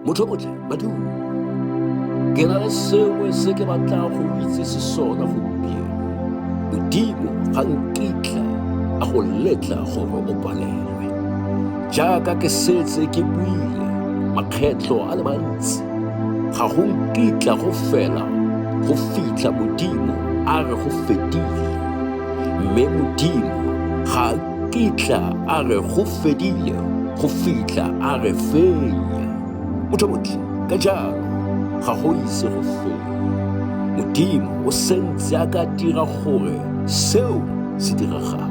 motho otlhe badimo ke na le sengwe se ke batlang go itsese sona gompieno modimo ga nkitla a go letla gore o palelwe jaaka ke setse ke buile makgetlho a le mantsi ga go nkitla go fela go fitlha modimo a re go fedile mme modimo ga fitlha a re go fedile go fitlha a re fenya motho motho ka jalo ga go ise go fenya modimo o sentse a ka dira gore seo se diragala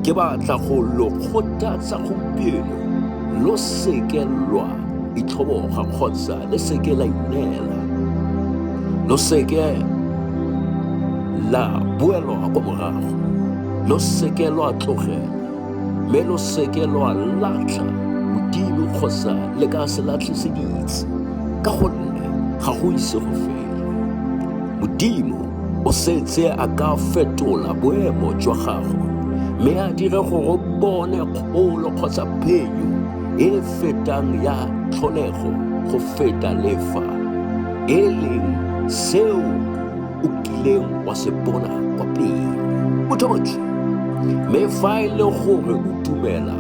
ke batla go lo kgothatsa gompieno lo seke lwa itlhoboga kgotsa le seke la ineela lo seke la boelwa kwa morago lo seke lwa tlogela mme lo seke lwa latlha modimo kgotsa le ka se latlhe se ditse ka gonne ga go ise go fela modimo o setse a ka fetola boemo jwa gago mme a dire gore o bone kgolo kgotsa phenyo e e fetang ya tlholego go feta lefa e leng seo o kileng wa se bona kwa pele mothomotswi mme fa e le gore o dumela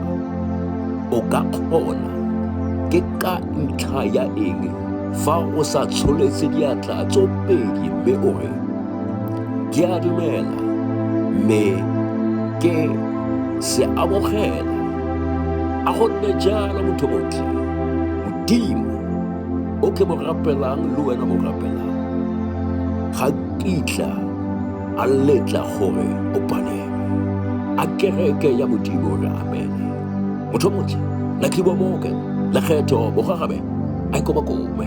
o ka kgona ke ka ntlha ya eng fa o sa tsholetse diatla tso pedi mme o re ke a dumela mme ke se amogela a gonne jalo motho motlhe modimo o ke mo rapelang le wena o rapelang ga kitla a letla gore o palelwe a kereke ya modimo re amene motho o montle lakhibo moke lekgetho bogagabe a ikobakobe